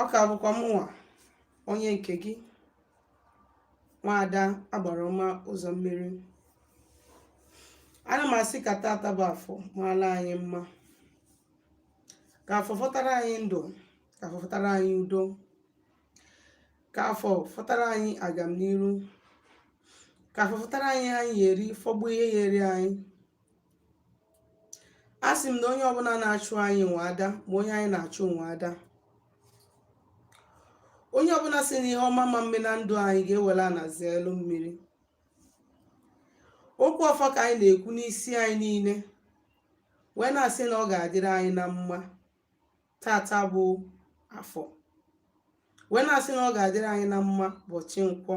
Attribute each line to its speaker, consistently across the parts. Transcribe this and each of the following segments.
Speaker 1: ọ ka bụkwa mụnwa onye nke gị nwaada agbara ọma ụzọ mmiri ana m asị ka tata bụ afọ maala anyị mma ka afọ fọtara anyị ndụ ka afọ fọtara anyị udo ka afọ fọtara anyị agamniru ka afọ fọtara anyị anyị eri fọgbu ihe ya eri anyị a sị m na onye ọbụla na-achụ anyị nwe ada ma onye anyị na-achụ nwe ada onye ọbụla sị na ihe ọma ama eme na ndụ anyị ga-ewelu ana zelu mmiri okwu ọfọ ka anyị na-ekwu n'isi anyị niile wee na-asị na ọ ga-adịrị anyị na mma tata bụ afọ wee na-asị na ọ ga-adịrị anyị na mma ụbọchị nkwọ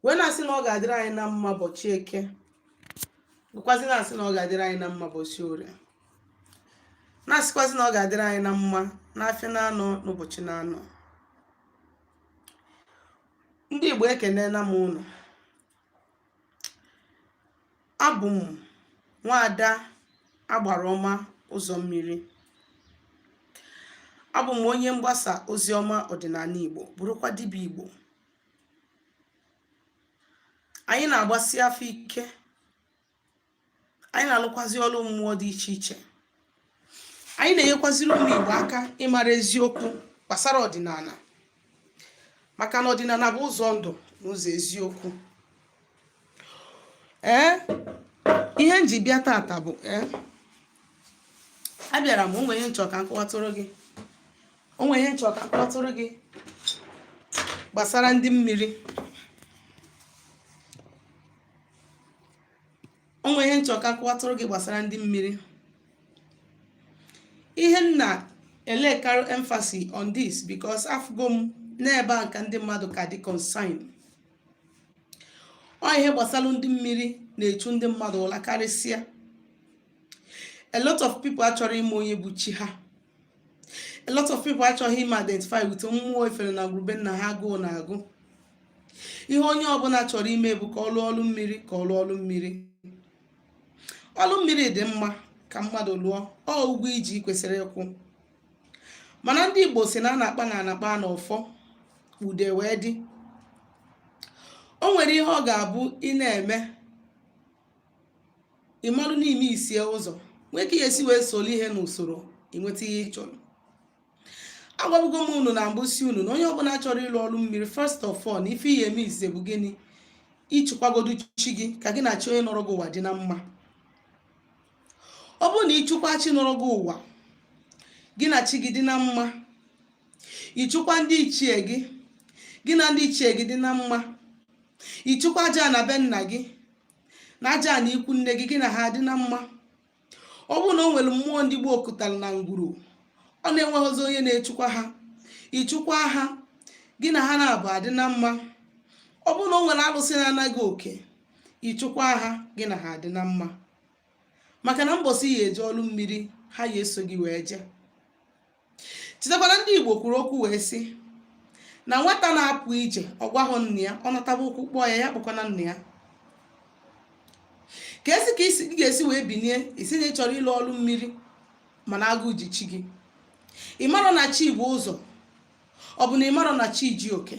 Speaker 1: wee na-asị na ọ ga-adịrị anyị na mma ụbọchị eke bụkwazi na-asị na ọ ga-adịrị anyị na mma ụbọchị orie na-asịkwazi na ọ ga-adịrị anyị na mma n'afịa na anọ n'ụbọchị na anọ ndị Igbo ekenela m unu abụ m nwaada agbara ọma ụzọ mmiri abụ m onye mgbasa ozi ọma ọdịnala Igbo bụrụkwa dibịa Igbo anyị na-agbasi afa ike anyị na-alụkwazi ọrụ mmụọ dị iche iche anyị na-enyekwaziri ụmụ Igbo aka ịmara eziokwu gbasara ọdịnala maka na ọdịnala bụ ụzọ ndụ na ụzọ eziokwu ee ihe m ji bịa tata bụ ee abịara m o nwe ihe m chọ ka m kọwatụrụ gị gbasara ndị mmiri o nwe ihe m chọ ka m kọwatụrụ gị gbasara ndị mmiri ihe m na-elekarị emphasis on this because afụgo m na ebe a ka ndị mmadụ ka dị concern ọ ihe gbasara ndị mmiri na-echu ndị mmadụ ụla karịsịa a lot of people achọrọ ịma onye bụ chi ha a lot of people achọghị ime identify with mmụọ e fere na ngwuru be nna ha agụụ na-agụ ihe onye ọbụla chọrọ ime bụ ka ọ lụọ ọlụ mmiri ka ọ lụọ ọlụ mmiri ọlụ mmiri dị mma ka mmadụ lụọ ọ ụgwọ i ji kwesịrị ịkwụ mana ndị Igbo sị na a na-akpa na a na-akpa na ọfọ ude wee dị o nwere ihe ọ ga-abụ ị na-eme ị marụ n'ime isie ụzọ nwee ka ị ya-esi wee soro ihe n'usoro i nweta ihe ị chọrọ agwabugo m unu na mbụ sị unu na onye ọbụla chọrọ ịlụ ọrụ mmiri first of all na ife ị ya-eme ise bụ gịnị ịchụkwagodu chi gị ka gị na chi onye nọrọ gị ụwa dị na mma ọ bụrụ na ịchụkwa chi nọrọ gị ụwa gị na chi gị dị na mma ịchụkwa ndị ichie gị gị na ndị ichie gị dị na mma ịchụkwa ajana be nna gị na ajana ikwu nne gị gị na ha dị na mma ọ bụrụ na o nwere mmụọ ndị gboo kutara na ngwuru ọ na-enweghịzi onye na-echukwa ha ịchụkwa ha gị na ha na abụa adị na mma ọ bụrụ na o nwere alụsị na-ana gị oke ịchụkwa ha gị na ha adị na mma maka na mbọsị ị ya-eje ọlụ mmiri ha ya-eso gị wee jee chetakwana ndị igbo kwuru okwu wee sị na nwata na-apụ ije ọ gwahụ nna ya ọ nataba ụkwụ kpọọ ya ya kpọkwana nna ya ka esi ka ị ga-esi wee binie ị sị na ị chọrọ ịlụ ọrụ mmiri mana agụụ ji chi gị ị marọ na chi bu ụzọ ọ bụ na ị marọ na chi ji oke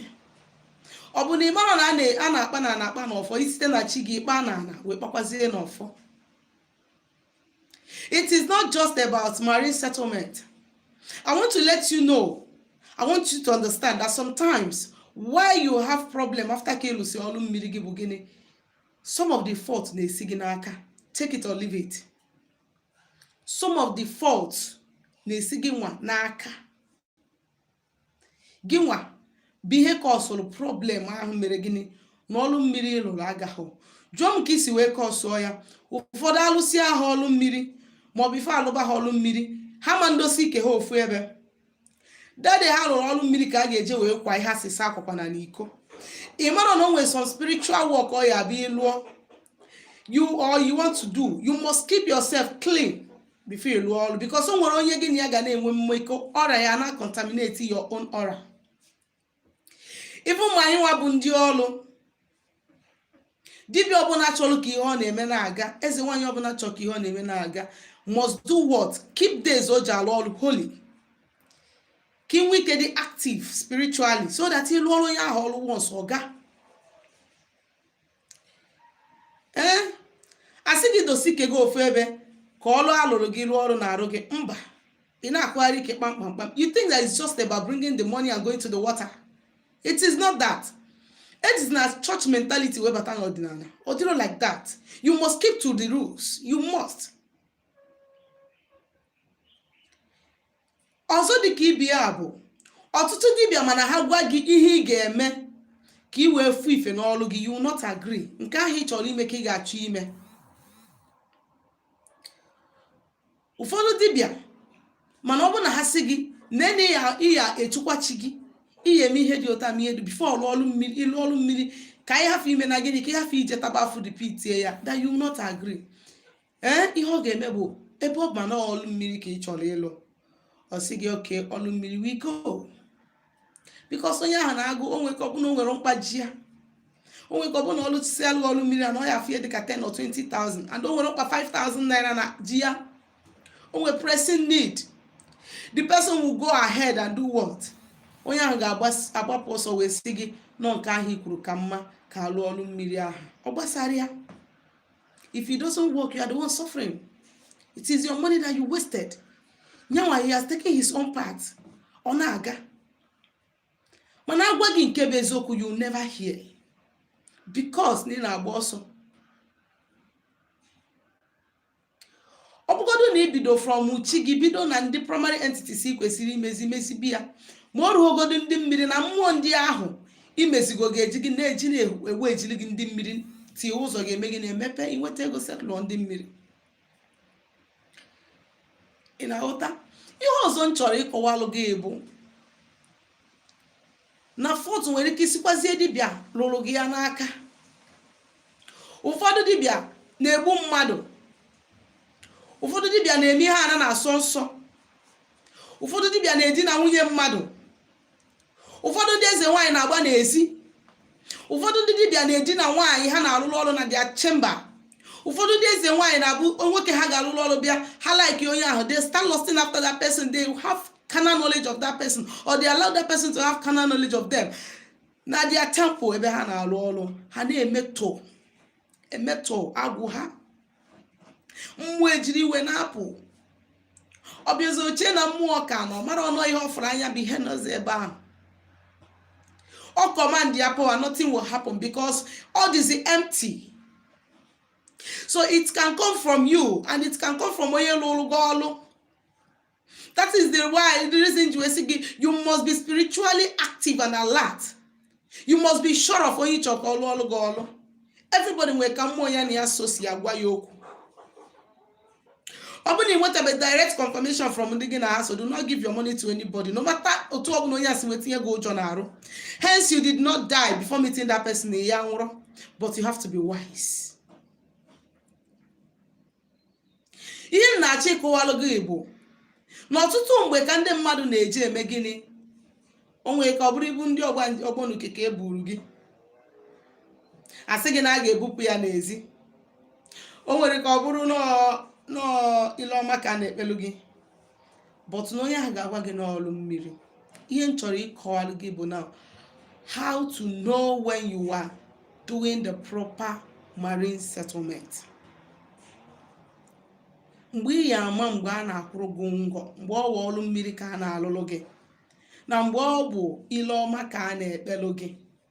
Speaker 1: ọ bụ na ị marọ na a na-akpa n'ana akpa n'ọfọ i site na chi gị kpaa na ana wee kpakwazie n'ọfọ it is not just about marine settlement i want to let you know i want you to understand that sometimes why you have problem after ka ị lụsị ọlụ mmiri gị bụ gịnị some of the fault na-esi gị n'aka take it or leave it some of the fault na-esi gị nwa n'aka gị nwa bụ ihe causeụrụ problem ahụ mere gịnị na ọlụ mmiri ị lụrụ agahụ jụọ m ka i si wee causeụọ ya ụfọdụ a lụsịa ha ọlụ mmiri maọbụ before a lụba ha ọlụ mmiri ha ma ndosi ike ha ofu ebe that day ha lụrụ ọlụ mmiri ka ha ga-eje wee kwa ihe a sị ha akwakwana iko ị marọ na o nwere some spiritual work ọ ya-abụ ị lụọ ya or you want to do you must keep yourself clean before ị lụọ ọrụ because o nwere onye gị na ya ga na-enwe mmekọ aura ya na contaminate your own aura even ma anyị nwa bụ ndị ọrụ dibịa ọbụla chọrọ ka ihe ọ na-eme na-aga eze nwaanyị ọbụla chọrọ ka ihe ọ na-eme na-aga must do what keep days o ji alụ ọrụ holy ka i nwee ike dị active spiritually so that ị lụọrọ onye ahụ ọrụ once ọ gaa ee eh, a sị gị dosi ike gị ofu ebe ka ọlụ a lụrụ gị lụọ ọrụ n'arụ gị mba ị na-akụgharị ike kpamkpamkpam you think that it's just about bringing the money and going to the water it is not that it is not church mentality webata n'ọdịnala ọ dịrọ like that you must keep to the rules you must ọzọ dị ka ibe ya bụ ọtụtụ dibịa mana ha gwa gị ihe ị ga-eme ka ị wee fụ ife n'ọlụ gị you will not agree nke ahụ ị chọrọ ime ka ị ga-achọ ime ụfọdụ dibịa mana ọ bụrụ na ha sị gị nee na ị ya ị ya-echukwa chi gị ị ya-eme ihe dị otu a mee ihe dị before ị lụọ ọlụ mmiri ịlụ ọlụ mmiri ka anyị hafụ ime na gịnị ka ị hafụ ije taba afụ repeatie ya that you will not agree ee ihe ọ ga-eme bụ ebe ọ ma na ọlụ mmiri ka ị chọrọ ịlụ ọ sị gị okay ọlụ mmiri we go because onye ahụ na-agụ o nwee ike ọ bụ na o nwere mkpa ji ya o nwee ike ọ bụ na ọlụ si alụ ọlụ mmiri a na ọ ya afie dịka 10 or 20,000 and o nwere mkpa 5,000 naira na ji ya o nwere pressing need the person will go ahead and do what onye ahụ ga-agbapụ ọsọ wee sị gị na ọ nke ahụ i kwuru ka mma ka a lụ ọlụ mmiri ahụ ọ gbasarọ ya if it doesn't work you are the one suffering it is your money that you wasted nya nwa he has taken his own part ọ na-aga mana a gwa gị nke bụ eziokwu you never hear because na ị na-agba ọsọ ọ bụgodu na i bido from chi gị bido na ndị primary entities ị kwesịrị imezi mezibe ya ma ọ ruogodu ndị mmiri na mmụọ ndị ahụ i mezigo ga-eji gị na-eji na-ewu ejiri gị ndị mmiri tie ụzọ ga-eme gị na-emepe i nweta ego settle ndị mmiri ị na-aghọta ihe ọzọ m chọrọ ịkọwalụ gị bụ na fault nwere ike isikwazie dibịa lụrụ gị ya n'aka ụfọdụ dibịa na-egbu mmadụ ụfọdụ dibịa na-eme ihe ana na-asọ nsọ ụfọdụ dibịa na-edina nwunye mmadụ ụfọdụ ndị eze nwaanyị na-agba n'ezi ụfọdụ ndị dibịa na-edina nwaanyị ha na-alụlụ ọlụ na their chamber ụfọdụ ndị eze nwaanyị na-abụ nwoke ha ga-alụlụ ọlụ bịa ha like onye ahụ they start lusting after that person they have carnal knowledge of that person or they allow that person to have carnal knowledge of them na their temple ebe ha na-alụ ọlụ ha na-emetọ emetọ agwụ ha mmụọ ejiri iwe na-apụ ọ bịazie o chee na mmụọ ka nọ marọ na ihe ọ fụrụ anya bụ ihe nọzi ebe ahụ ọ command ya power nothing will happen because all is empty so it can come from you and it can come from onye lụrụ gị ọlụ that is the why the reason m ji wee sị gị you must be spiritually active and alert you must be sure of onye ị chọ ka ọ lụọlụ gị ọlụ everybody nwere ka mmụọ ya na ya so si agwa ya okwu ọ bụrụ na ị nwetabe direct confirmation from ndị gị na ha so do not give your money to anybody no matter otu ọbụla onye ahụ si wee tinye gị ụjọ n'arụ hence you did not die before meeting that person na ị ya-anwụrọ but you have to be wise ihe m na-achọ ịkọwalụ gị bụ na ọtụtụ mgbe ka ndị mmadụ na-eji eme gịnị o nwere ike ọ bụrụ ibu ndị ọgbọnuke ka e buru gị a sị gị na a ga-ebupụ ya n'ezi o nwere ike ọ bụrụ na ọ ile ọma ka a na-ekpelu gị but na onye ahụ ga-agwa gị na ọrụ mmiri ihe m chọrọ ịkọwalụ gị bụ na how to know when you are doing the proper marine settlement mgbe ị ya ama mgbe a na-akwụrụ gị ngọ mgbe ọ bụ ọrụ mmiri ka a na-alụlụ gị na mgbe ọ bụ ile ọma ka a na-ekpelụ gị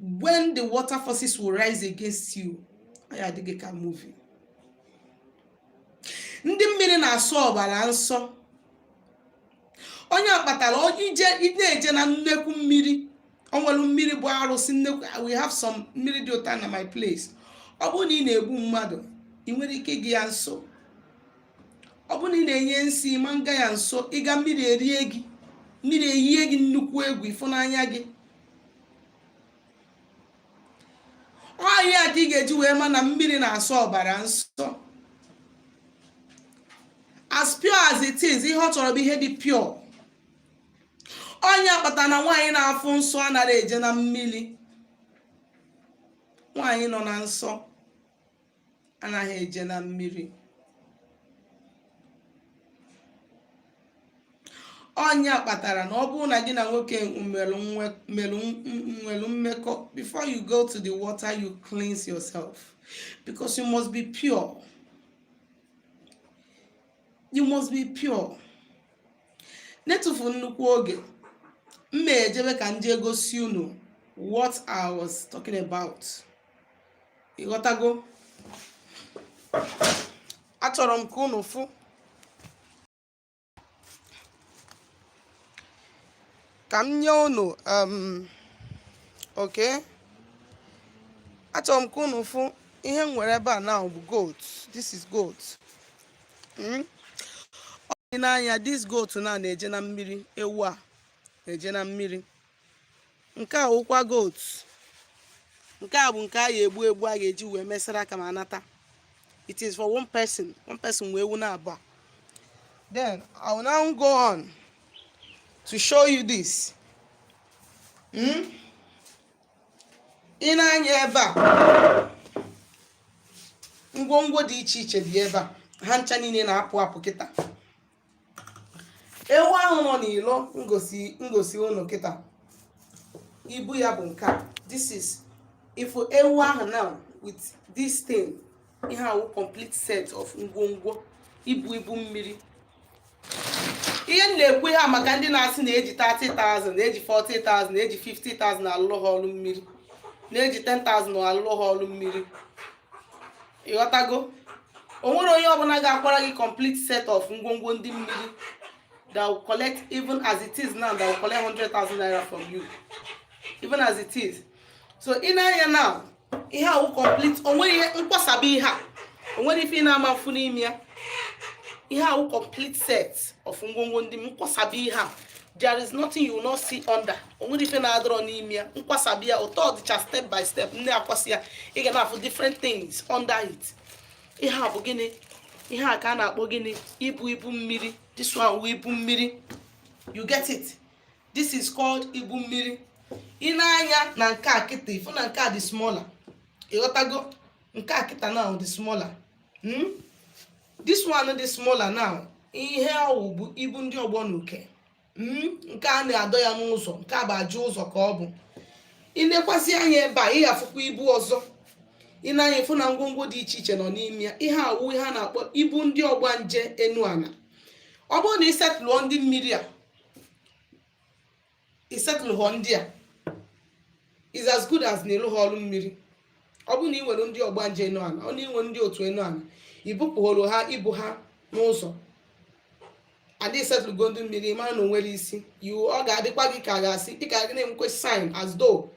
Speaker 1: when the water forces will rise against you ọ ya adị gị ka movie ndị mmiri na-asọ ọbara nsọ ọ nya kpatara ije na-eje na nnekwu mmiri ọ nwere mmiri bụ arụsị nnekwu we have some mmiri dị otu a na my place ọ bụrụ na ị na-egbu mmadụ i nwerọ ike ịga ya nso ọ bụrụ na ị na-enye nsị ị ma nga ya nso ị gaa mmiri erie gị mmiri eyie gị nnukwu egwu ị fụ n'anya gị ọ ihe a ka ị ga-eji wee ma na mmiri na-asọ ọbara nsọ as pure as it is ihe ọ chọrọ bụ ihe dị pure ọ nya kpata na nwaanyị na-afụ nsọ anaghị eje na mmiri nwaanyị nọ na nsọ anaghị eje na mmiri ọ nya kpatara na ọ bụrụ na gị na nwoke nwere mmekọ before you go to the water you cleanse yourself because you must be pure you must be pure n'etufu nnukwu oge m na-ejebe ka m jee gosi unu what I was talking about ịghọtago achọrọ m ka unu fụ ka m nye unu um, okay achọrọ m ka unu fụ ihe m nwere ebe a now bụ goat this is goat hmm? ọ dị n'anya this goat now na-eje na mmiri ewu a na-eje na mmiri nke a wụkwa goat nke a bụ nke a ga-egbu egbu a ga-eji wee mee saraka ma a nata it is for one person one person nwe ewu naabụọ then i will now go on to show you this hmm? ị nee anya ebe a ngwongwo dị iche iche dị ebe a ha ncha niile na-apụ apụ kịta ewu ahụ nọ n'ilo m gosi unu kịta ibu ya bụ nke a this is if ewu ahụ now with this thing ihe a wụ complete set of ngwongwo ibu ibu mmiri ihe m na-ekwu ihe a maka ndị na-asị na e ji 30,000 na e ji 40,000 na e ji 50,000 alụlụ ha ọrụ mmiri na e ji 10,000 alụlụ ha ọrụ mmiri ị ghọtago o nwero onye ọbụna ga-akwara gị complete set of ngwongwo ndị mmiri that will collect even as it is now that will collect 100,000 naira from you even as it is so i nee anya now ihe a wụ complete o nwero ihe m kwasaba ihe a o nwero ife ị na-ama afụ n'ime ya ihe a wụ complete set of ngwongwo ndị m kwasaba ihe a there is nothing you will not see under o nwero ife na-adịrọ n'ime ya m kwasaba ya otu ọ dịcha step by step m na-akwasị ya ị ga na-afụ different things under it ihe a bụ gịnị ihe a ka a na-akpọ gịnị ibu ibu mmiri this one wụ ibu mmiri you get it this is called ibu mmiri i nee anya na nke a kịta ị fụ na nke a dị smaller ị ghọtago nke a kịta now dị smaller hmm? this one dị smaller now ihe ọ wụ bụ ibu ndị ọgbọ na uke hmm, nke a na-adọ ya n'ụzọ nke a bụ aja ụzọ ka ọ bụ i nekwasị anya ebe a ị ga-afụkwa ibu ọzọ i nee anya ị fụ na ngwongwo dị iche iche nọ n'ime ya ihe a wụ ihe a na-akpọ ibu ndị ọgbanje enu ana ọ bụrụ na i settle-họ ndị mmiri a i settle-họ ndị a is as good as na ị lụhọ ọlụ mmiri ọ bụrụ na i nwere ndị ọgbanje enu ana ọ na i nwere ndị otu enu ana i bupụhọrọ ha ibu ha n'ụzọ and i settle-go ndị mmiri mara na o nwero isi ọ ga-adịkwa gị ka a ga-asị ị ka na-enwekwe sign as though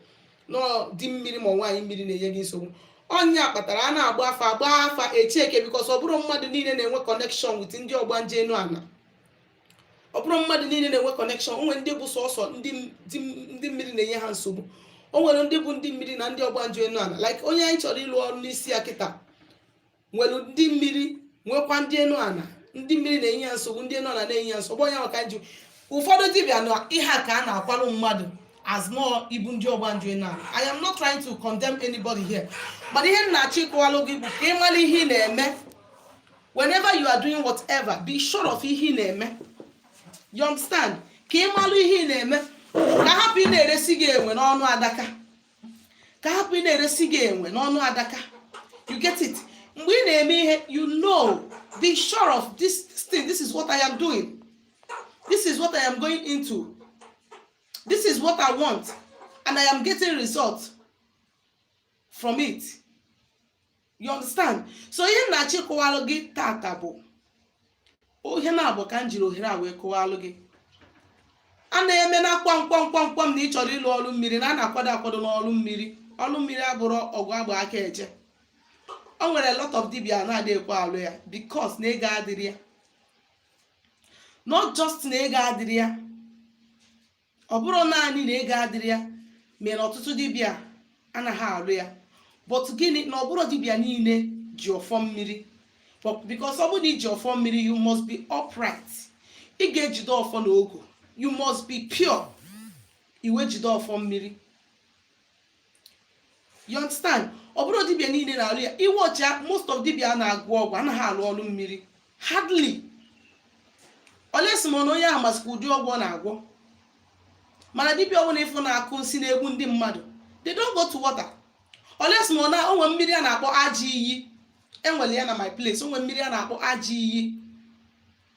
Speaker 1: na di mmiri ma nwaanyị mmiri na-enye gị nsogbu ọ nya kpatara a na-agba afa a gbaa afa e checkie because ọ bụrọ mmadụ niile na-enwe connection with ndị ọgbanje enu ana ọ bụrọ mmadụ niile na-enwe connection o nwere ndị bụ sọsọ ndị mmiri na-enye ha nsogbu o nwere ndị bụ ndị mmiri na ndị ọgbanje enu ana like onye anyị chọrọ ịlụ ọrụ n'isi ya kịta nwere ndị mmiri nwekwa ndị enu ana ndị mmiri na-enye ya nsogbu ndị enu ana na-enye ya nsogbu onye maka nju ụfọdụ dibịa na ihe a ka ha na-akwalụ mmadụ as more ibu ndị ọgbanje enu ana I am not trying to condemn anybody here mana ihe m na-achọ ịkọwalụ gị bụ ka ị mara ihe ị na-eme whenever you are doing whatever be sure of ihe ị na-eme you understand ka ị malụ ihe ị na-eme ka a hapụ ị na-eresi gị enwe n'ọnụ adaka ka a hapụ ị na-eresi gị enwe n'ọnụ adaka you get it mgbe ị na-eme ihe you know be sure of this thing this is what I am doing this is what I am going into this is what I want and I am getting results from it. you understand so ihe m na-achọ ịkọwalụ gị tata bụ ọ ihe na-abụ ka m jiri ohere a wee kọwalụ gị a na-eme na kwam kwam kwam kwam na ị chọrọ ịlụ ọrụ mmiri na a na-akwado akwado n'ọrụ mmiri ọrụ mmiri abụrọ ọgụ a gba aka eje o nwere lot of dibịa na-adị ekwe alụ ya because na ego adịrọ ya not just na ego adịrọ ya ọ bụrọ naanị na ego adịrọ ya mere ọtụtụ dibịa anaghị alụ ya but gịnị na ọ bụrọ dibịa niile ji ọfọ mmiri because ọ bụrụ na i ji ọfọ mmiri you must be upright ị ga-ejide ọfọ na ogu you must be pure i wee jide ọfọ mmiri you understand ọ bụrọ dibia niile na-alụ ya iwe ọcha most of dibia na-agwọ ọgwụ anaghị alụ ọrụ mmiri hardly unless ma na onye ahụ masịkwa ụdị ọgwụ ọ na-agwọ mana dibia ọbụla ị fụ na-akụ nsị na-egbu ndị mmadụ they don't go to water unless ma na o nwe mmiri a na-akpọ ajọ iyi e nwere ya na my place o nwe mmiri a na-akpọ ajọ iyi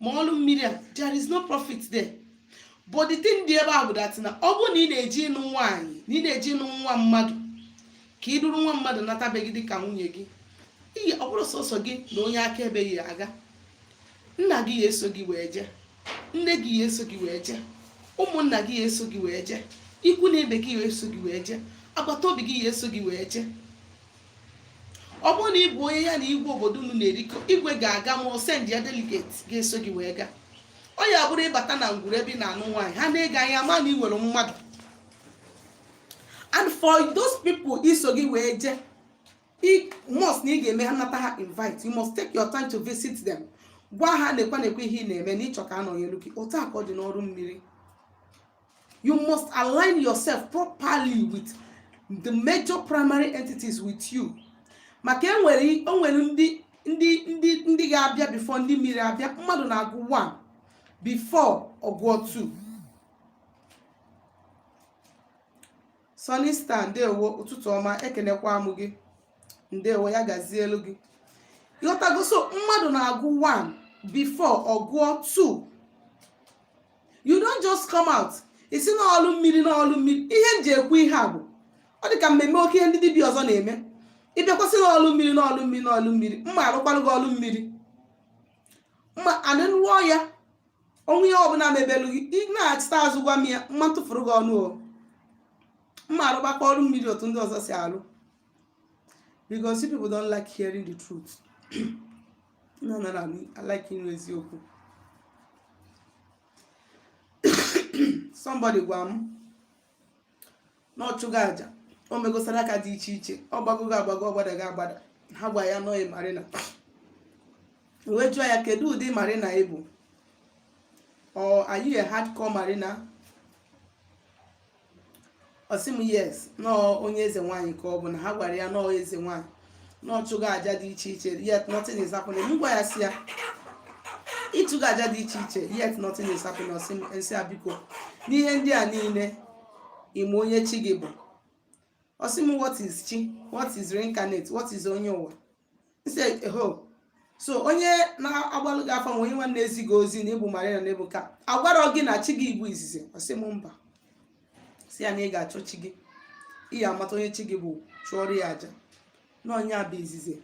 Speaker 1: ma ọrụ mmiri a there is no profit there but the thing dị ebe a bụ that na ọ bụrụ na ị na-eje ịnụ nwaanyị na ị na-eje ịnụ nwa mmadụ ka i duru nwa mmadụ nata be gị dị ka nwunye gị ọ bụrọ sọsọ gị na onye akaebe ya-aga nna gị ya-eso gị wee jee nne gị ya-eso gị wee jee ụmụnna gị ya-eso gị wee jee ikwu na ibe gị ya-eso gị wee jee agbata obi gị ya-eso gị wee jee ọ bụrụ na ị bụ onye ya na igwe obodo unu na-erikọ igwe ga-aga ma o send ya delegate ga-eso gị wee gaa ọ ya bụrụ ị bata na ngwuru ebe ị na-anụ nwaanyị ha nee gị anya ma na i nwere mmadụ and for those people iso gị wee jee must na ị ga-eme ha nata ha invite you must take your time to visit them gwa ha nekwa nekwa ihe ị na-eme na ị chọ ka a nọnyelu gị otu a ka ọ dị n'ọrụ mmiri you must align yourself properly with the major primary entities with you maka o nwere ndị ga-abịa before ndị mmiri abịa mmadụ na-agụ 1 before ọ gụọ 2 Sunny Star ndewo ụtụtụ ọma ekenekwa m gị ndewo ya gazielu gị ị ghọtago so mmadụ na-agụ 1 before ọ gụọ 2 you don't just come out ị sị na ọlụ mmiri na ọlụ mmiri ihe m ji ekwu ihe a bụ ọ dị ka m meme oke ihe ndị dibịa ọzọ na-eme ị bịakwa sị na ọlụ mmiri na ọlụ mmiri na ọlụ mmiri mụ arụkwalụ gị ọlụ mmiri mma anị rụọ ya o nwee ihe ọbụla mebelụ gị ị nachita azụ gwa m ya m ma tụfuru gị ọnụ o m ma arụgbakwa ọrụ mmiri otu ndị ọzọ si arụ because you people don't like hearing the truth na anarọ anụ alike ịnụ eziokwu somebody gwa m na ọ chụgo aja o mego saraka dị iche iche ọ gbagogo agbago ọ gbadago agbada ha gwa ya na ọ bụ marina wee jụọ ya kedu ụdị marina ị bụ or are you a hardcore marina ọ sị m yes na ọọ onye eze nwaanyị ka ọ bụ na ha gwara ya na ọọ eze nwaanyị na ọ chụgo aja dị iche iche yet nothing is happening m gwa ya sị ya ị chụgo aja dị iche iche yet nothing is happening ọ sị m m sị ya biko n'ihe ndị a niile ị ma onye chi gị bụ ọ sị m what is chi what is reincarnate what is onye ụwa so onye na-agbalụ gị afa onye nwa na-ezi gị ozi na ị bụ marine na ị bụ ka a gwarọ gị na chi gị bụ izizi ọ sị m mba sị ya na ị ga-achọ chi gị ị ya amata onye chi gị bụ chụọrọ ya aja na ọ nya bụ izizi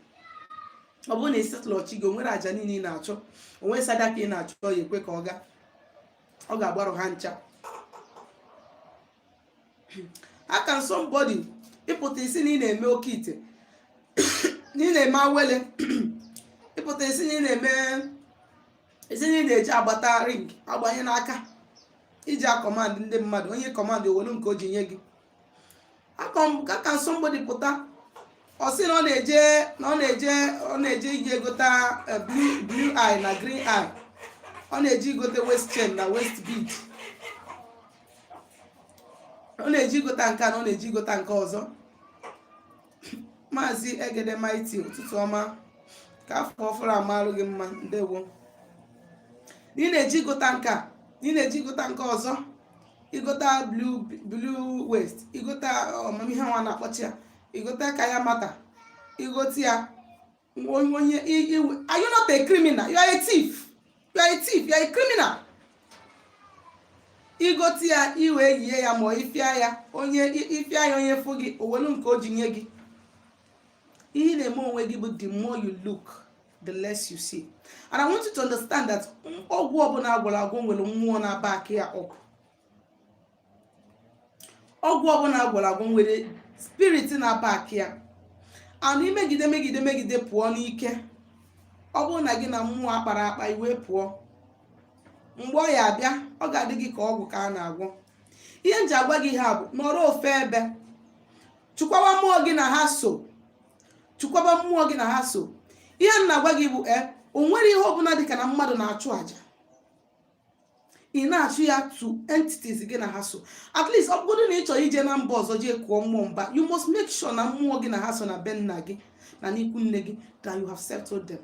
Speaker 1: ọ bụrụ na ị settlerọ chi gị o nwere aja niile ị na-achụ o nwee sadaka ị na-achụ ya ekwe ka ọ gaa ọ ga-agbarụ ha ncha how can somebody ị pụta ị sị na ị na-eme oke ite na ị na-eme awele ị pụta ị sị na ị na-eme ị sị na ị na-eji agbata ring agbanye n'aka iji acommand ndị mmadụ onye command o welu nke o ji nye gị how can somebody pụta ọ sị na ọ na-eje na ọ na-eje ọ na-eje iji egota eh, blue blue eye na green eye ọ na-eje igote waist chain na waist bead ọ na-eje igota nke a na ọ na-eje igota nke ọzọ maazị egede mighty ụtụtụ ọma ka afọ ọfụrụ a malụ gị mma ndewo ị na-eje igota nke a ị na-eje igota nke ọzọ igota blue waist igota ama m ihe wa na-akpọcha ya igota kayamata igota ya onye iwe are you not a criminal you are a thief you are a thief you are a criminal i gote ya i wee yie ya ma i fia ya onye i fia ya onye fụ gị o welu nke o ji nye gị ihe ị na-eme onwe gị bụ the more you look the less you see and i want you to understand that ọgwụ ọbụla a gwọrọ agwọ nwere mmụọ na-aback ya up ọgwụ ọbụla a gwọrọ agwọ nwere spirit na-aback ya and i megide megide megide pụọ n'ike ọ bụrụ na gị na mmụọ akpara akpa i wee pụọ mgbe ọ ya abịa ọ ga-adị gị ka ọgwụ ka a na-agwọ ihe m ji agwa gị ihe a bụ nọrọ ofe ebe chụkwaba mmụọ gị na ha so chụkwaba mmụọ gị na ha so ihe m na-agwa gị bụ e o nwere ihe ọbụla dịka na mmadụ na-achụ àjà ị na-achụ ya to entities gị na ha so at least ọ bụrụ na ị chọrọ ije na mba ọzọ jee kụọ mmụọ mba you must make sure na mmụọ gị na ha so na be nna gị na n'ikwu nne gị that you have settled them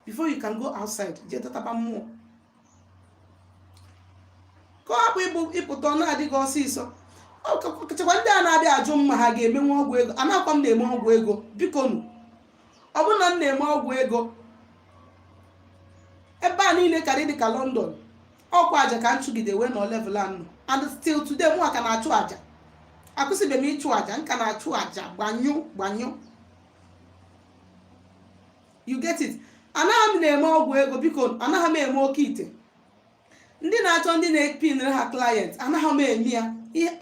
Speaker 1: before you can go outside jee dọtaba mmụọ ka ọ hapụ ịbụ ị pụta ọ na-adị gị ọsịsọ ọkachakwa ndị a na-abịa ajụ m ma ha ga-emenwu ọgwụ ego anakwa m na-eme ọgwụ ego biko nụ ọ bụrụ na m na-eme ọgwụ ego ebe a niile kara ịdị ka London ọkwa aja ka m chụgide wee nọ level a m nọ and still today mụ ka na-achụ aja akwụsịbe m ịchụ aja m ka na-achụ aja gbanyụ gbanyụ you get it anaghị m na-eme ọgwụ ego biko nu anaghị m eme oke ite ndị na-achọ ndị na-epinere ha client anaghị m eme ya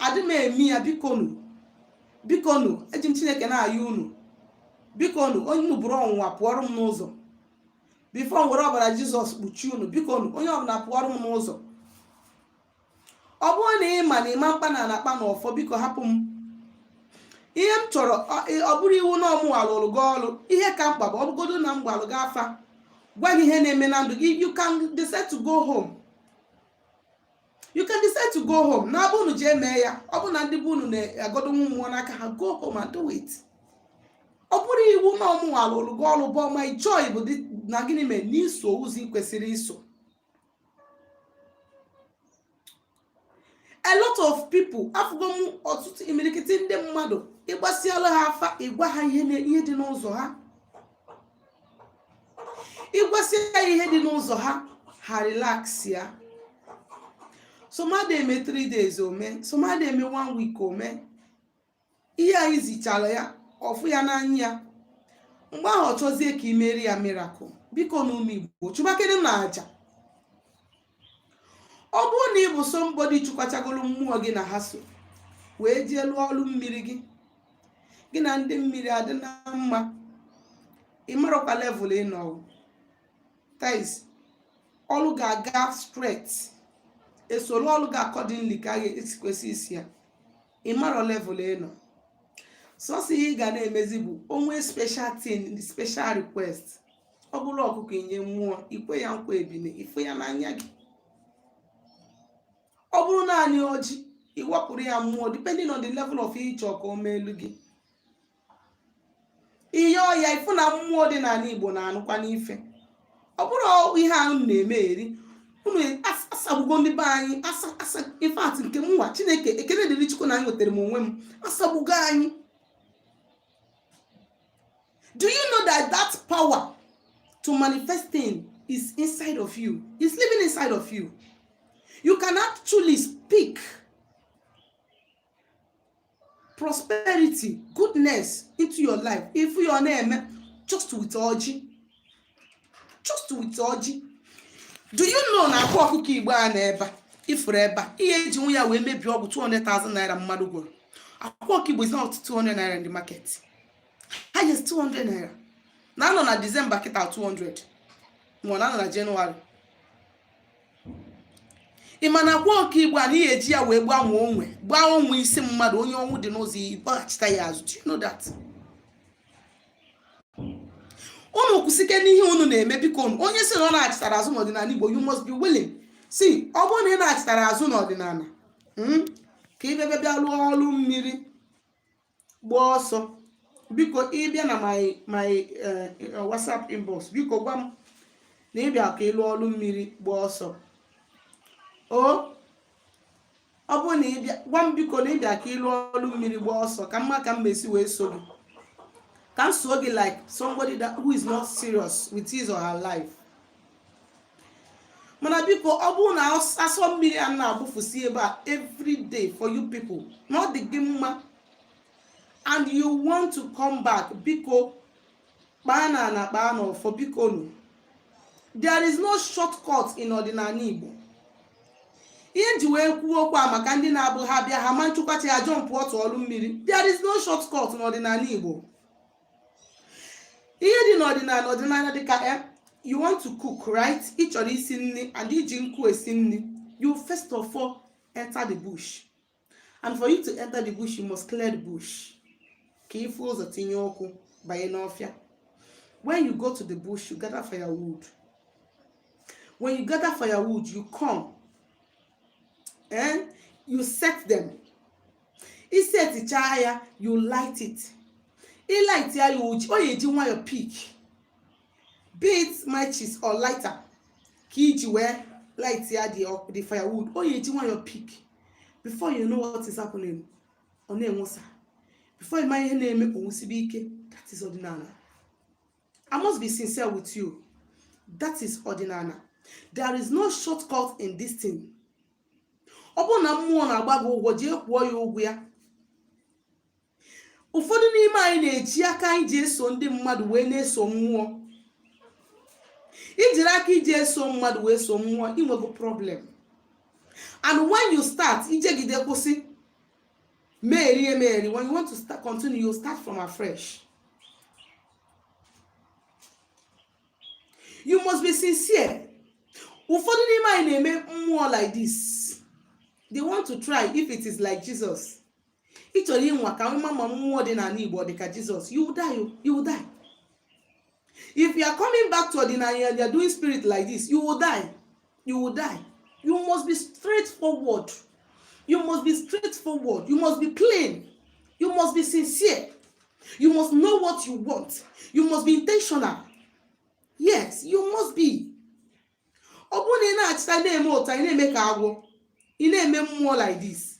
Speaker 1: adị m eme ya biko nu biko nu eji m chineke na-ayọ unu biko nu onye unu bụrụ ọnwụnwa pụọrọ m n'ụzọ before m were ọbara jizọs kpuchie unu biko nu onye ọbụla pụọrọ m n'ụzọ ọ bụrụ na ị ma na ịma mkpa na a na-akpa na ọfọ biko hapụ m ihe m chọrọ ọ- ị- ọ bụrọ iwu na ọ mụnwa lụrụ gị ọrụ ihe ka mkpa bụ ọ bụgodo na m gbaalụ gị afa gwa gị ihe na-eme na ndụ gị you can decide to go home you can decide to go home naa be unu jee mee ya ọ bụ na ndị be unu na-agọdo mmụọ n'aka ha go home and do it ọ bụrọ iwu na ọ mụwa lụrụ gị ọrụ but my joy bụ na gịnị mere na i so ụzọ ị kwesịrị iso a lot of people afụgo m ọtụtụ imirikiti ndị mmadụ ị gbasịala ha afa ị gwa ha ihe dị n'ụzọ ha ị gwasịa ya ihe dị n'ụzọ ha ha relax ya some adị eme 3 days o mee some adị eme 1 week o mee ihe anyị zichara ya ọ fụ ya n'anya ya mgbe ahụ ọ chọzie ka i meere ya miracle biko nu ụmụ igbo chụbakenụ aja ọ bụrụ na ị bụ somebody chụkwachagoro mmụọ gị na ha so wee jee lụọ ọrụ mmiri gị gị na ndị mmiri adị na mma ị marụkwa level ị nọ that is ọrụ ga-aga straight e soro ọrụ gị accordingly ka e si kwesị iso ya ị marụ level ị nọ sọsọ ihe ị ga na-emezi bụ o nwee special thing special request ọ bụrụ ọkụkọ i nye mmụọ i kwe ya nkwa ebunu ị fụ ya n'anya gị ọ bụrụ naanị ọjị ị wapụrụ ya mmụọ depending on the level of ihe ị chọ ka o meelụ gị i nye ya ị fụ na mmụọ dị n'ala igbo na-anụkwanụ ife ọ bụrụ ihe ahụ na-emeri unu e, asagbugo ndị be anyị in fact nke mụnwa chineke ekele dịrị chukwu na enwetara m onwe m asagbugo anyị Do you know that that power to manifest thing is inside of you? It's living inside of you. You can actually speak prosperity, goodness into your life. Ife ị na-eme, just with ọjị. Just with ọjị. Do you know na akwa ọkụkọ Igbo a nọ ebe a ị fụrụ ebe a ihe eji nwe ya wee mebie ọgwụ 200,000 naira mmadụ gwọrọ akwa ọkụkọ Igbo is not 200 naira in the market. highest 200 naira na anọ na disemba kịta 200 ma ọ na anọ na jenụwarị ị ma na akwa ọkụkọ igbo a na ihe eji ya wee gbanwee onwe gbaa onwe isi mmadụ onye ọnwụ dị n'ụzọ iji gbaghachita ya azụ do you know that unu kwụsike n'ihe unu na-eme biko nu onye si na ọ nachitara azụ n'ọdịnala igbo you must be willing see ọ bụrụ na ị nachitara azụ n'ọdịnala mm, ka ị bịa bịa lụọ ọrụ mmiri gbaa ọsọ biko ị bịa na my my eh, eh, whatsapp inbox biko gwa m na ị bịa ka ị lụọ ọrụ mmiri gbaa ọsọ o ọ bụrụ na ị bịa gwa m biko na ị bịa ka ị lụọ ọrụ mmiri gbaa ọsọ ka m ma ka m mesi wee so gị ka m so gị like somebody that who is not serious with his or her life mana biko ọ bụrụ na asọ mmiri a na-agbụfusi ebe a every day for you people na ọ dị gị mma and you want to come back biko kpaa na na kpaa na ọfọ biko nu there is no shortcut in ọdịnala Igbo ihe nji wee kwuo okwu a maka ndị na-abụ ha bịa ha ma nchụkwa chi ha jumpụọ to ọlụ mmiri there is no shortcut n'ọdịnala Igbo ihe dị n'ọdịnala ọdịnala dịka eh, you want to cook right ị chọrọ isi nri and i ji nkụ esi nri you first of all enter the bush and for you to enter the bush you must clear the bush ka ị fụ ụzọ tinye ụkwụ banye n'ọfịa when you go to the bush you gather firewood when you gather firewood you come and you set them i seticha ya you light it i light ya ya ọ ya-eji nwayọ pick be it matches or lighter ka i ji wee light ya the, the firewood ọ ya-eji nwayọ pick before you know what is happening ọ na-enwusa before ị ma ihe na-eme o nwusibe ike that is ọdịnala I must be sincere with you. That is ọdịnala. There is no shortcut in this thing. Ọ bụrụ na mmụọ na-agba gị ụgwọ jee kwụọ ya ụgwọ ya. Ụfọdụ n'ime anyị na-eji aka anyị ji eso ndị mmadụ wee na-eso mmụọ. I jiri aka i ji eso mmadụ wee so mmụọ i nwego problem. And when you start i jegide kwụsị merie merie when you want to start continue you start from afresh. you must be sincere ụfọdụ n'ime anyị na-eme mmụọ like this they want to try if it is like Jesus ị chọrọ ịnwa ka ị wee ma ma mmụọ dị n'ala Igbo dị ka Jesus you die you will die if you are coming back to ọdịnala you are doing spirit like this you will die you will die you must be straightforward you must be straightforward you must be plain you must be sincere you must know what you want you must be intentional yes you must be ọ bụrụ na ị na-achịta na-eme ụta ị na-eme ka agwọ ị na-eme mmụọ like this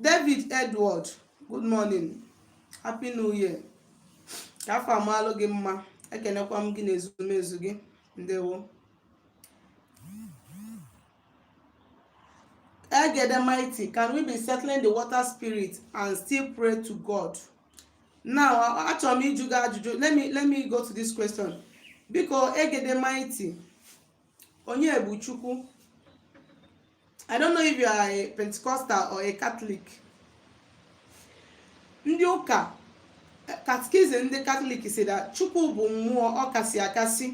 Speaker 1: David Edward good morning happy new year ka afọ a malụ gị mma ekenekwa m gị na ezumezu gị ndewo Egede mighty, can we be settling the water spirit and still pray to God? Now, achọrọ m ịjụ gị ajụjụ. Let me, let me go to this question. Biko, Egede mighty, onye bụ chukwu i don't know if you are a pentecostal or a catholic ndị ụka katikizim ndị katọlik say that chukwu bụ mmụọ ọkasị akasị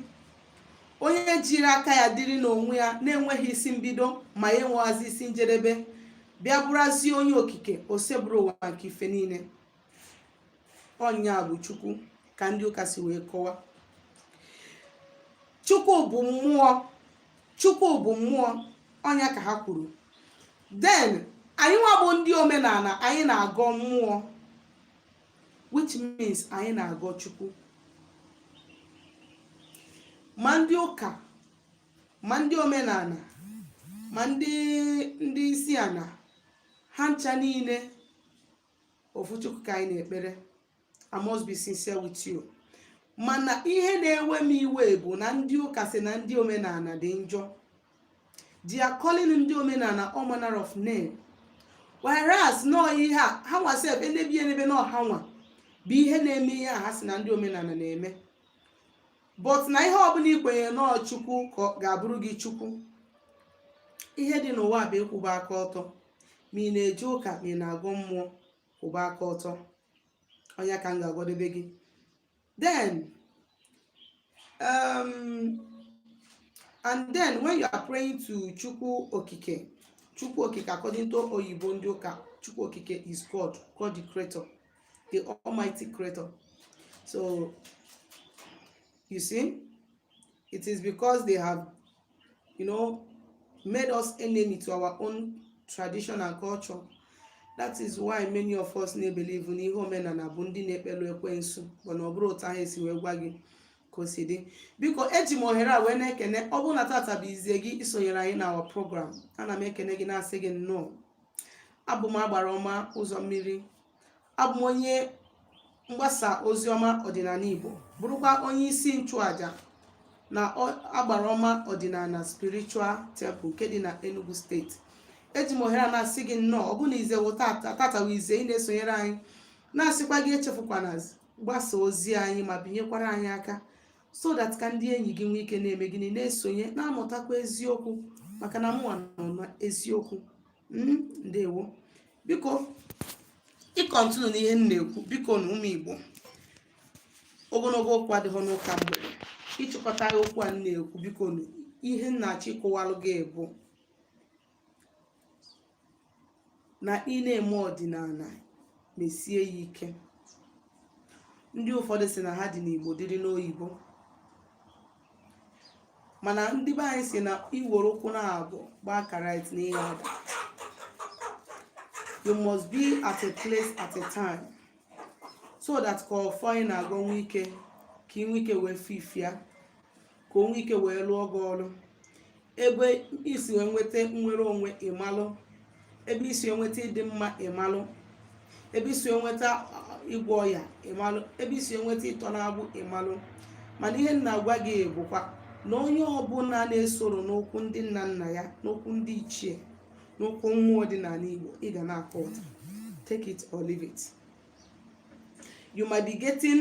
Speaker 1: onye jiri aka ya dịrị n'onwe ya na-enweghị isi mbido ma ya enweghazị isi njedebe bịa bụrụzie onye okike oseburu ụwa nke ife niile ọ nya bụ chukwu ka ndị ụka si wee kọwa chukwu bụ mmụọ chukwu bụ mmụọ ọ nya ka ha kwuru then anyị nwa bụ ndị omenala anyị na-agọ mmụọ which means anyị na-agọ chukwu ma ndị ụka ma ndị omenala ma ndị ndị isi ana ha ncha niile ofu chukwu ka anyị na-ekpere i must be sincere with you mana ihe na-ewe m iwe bụ na ndị ụka sị na ndị omenala dị njọ they are calling ndị omenala all manner of name whereas na ọ ihe a ha nwa sef enebe ya enebe na ọ ha nwa bụ ihe na-eme ihe a ha sị na ndị omenala na-eme but na ihe ọbụla i kwenyere na ọ chukwu ka ọ ga-abụrụ gị chukwu ihe dị n'ụwa bụ ịkwụba aka ọtọ ma ị na-eje ụka ma ị na-agọ mmụọ kwụba aka ọtọ ọ nya ka m ga-agwadebe gị then um, and then when you are praying to chukwu okike chukwu okike according to oyibo ndị ụka chukwu okike is god god the creator the Almighty Creator. So, you see, it is because they have, you know, made us enemy to our own tradition and culture. That is why many of us na-ebelieve n'ihe omenala bụ ndị na-ekpelu ekwensu but na ọ bụrọ otu ahụ e si wee gwa gị ka o si dị biko eji m ohere a wee na-ekene ọ bụrụ na tata bụ izie gị isonyere anyị na our program ana m ekene gị na-asị gị nnọọ abụ m agbara ọma ụzọ mmiri abụ m onye mgbasa ozi ọma ọdịnala igbo bụrụkwa onye isi nchụaja na ọ- agbara ọma ọdịnala spiritual temple nke dị na enugu steeti eji m ohere a na-asị gị nnọọ ọ bụ na ize wụ tata wụ ize ị na-esonyere anyị na-asịkwa gị echefukwana gbasa ozi anyị ma binyekwara anyị aka so that ka ndị enyi gị nwee ike na-eme gịnị na-esonye na-amụtakwa eziokwu maka na mụnwa nọ na eziokwu hmm, ndewo biko icontinue n'ihe m na-ekwu bikonu ụmụ igbo ogologo okwu adịghị n'ụka mgbede ịchịkọta okwu a m na-ekwu bikonu ihe m na-achọ ịkọwalụ gị bụ na ị na-eme ọdịnala mesie ya ike ndị ụfọdụ sị na ha dị n'igbo dịrị n'oyibo mana ndị be anyị sị na i were ụkwụ na abụọ gbaa karate na ị ya-ada you must be at a place at a time so that ka ọfọ ị na-agọ nwee ike ka ị nwee ike wee fifia ka o nwee ike wee lụọ gị ọlụ ebe i si wee nweta nnwere onwe ị malụ ebe i si wee nweta ịdị mma ị malụ ebe i si wee nweta ịgwọ ọya ị malụ ebe i si wee nweta ịtọ n'agbụ ị malụ mana ihe m na-agwa gị bụkwa na onye ọbụla na-esoro n'okwu ndị nna nna ya n'okwu ndị ichie n'okwu mmụọ ọdịnala igbo ị ga na-akwa ụta take it or leave it you might be getting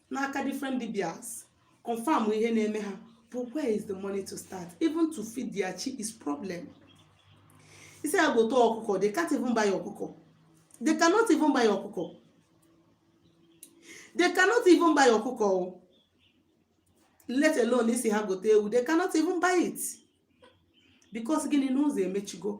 Speaker 1: n'aka different dibias confirm ihe na-eme ha but where is the money to start even to feed their chi is problem ị sị ha gote ọkụkọ they can't even buy ọkụkọ they cannot even buy ọkụkọ they cannot even buy ọkụkọ let alone ị sị ha gote ewu they cannot even buy it because gịnị na ụzọ emechigo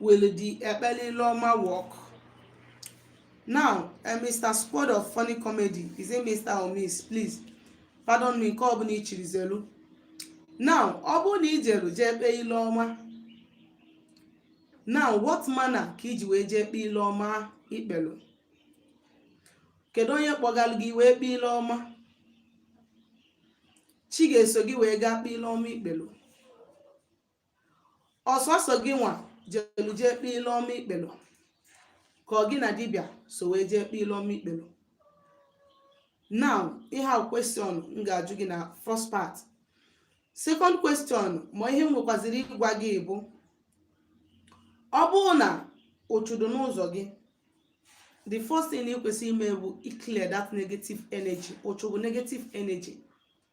Speaker 1: will the ekpele ile ọma work? Now, uh, eh, Mr. Squad of Funny Comedy, is it Mr. or Miss? Please, pardon me, nke ọbụla i chiri zelu. Now, ọ bụrụ na i jelu jee kpee ile ọma, now what manner ka i ji wee jee kpee ile ọma ikpelu? Kedu onye kpọgalụ gị wee kpee ile ọma? Chi ga-eso gị wee gaa kpee ile ọma ikpelu. ọ sọsọ gịnwa jelu jee kpee ile ọma i kpelu ka ọ gị na dibịa so wee jee kpee ile ọma i kpelu now ihe a question m ga-ajụ gị na first part second question ma ihe m nwekwaziri ịgwa gị bụ ọ bụrụ na uchu dị n'ụzọ gị the first thing ị kwesịrị ime bụ iclear that negative energy uchu bụ negative energy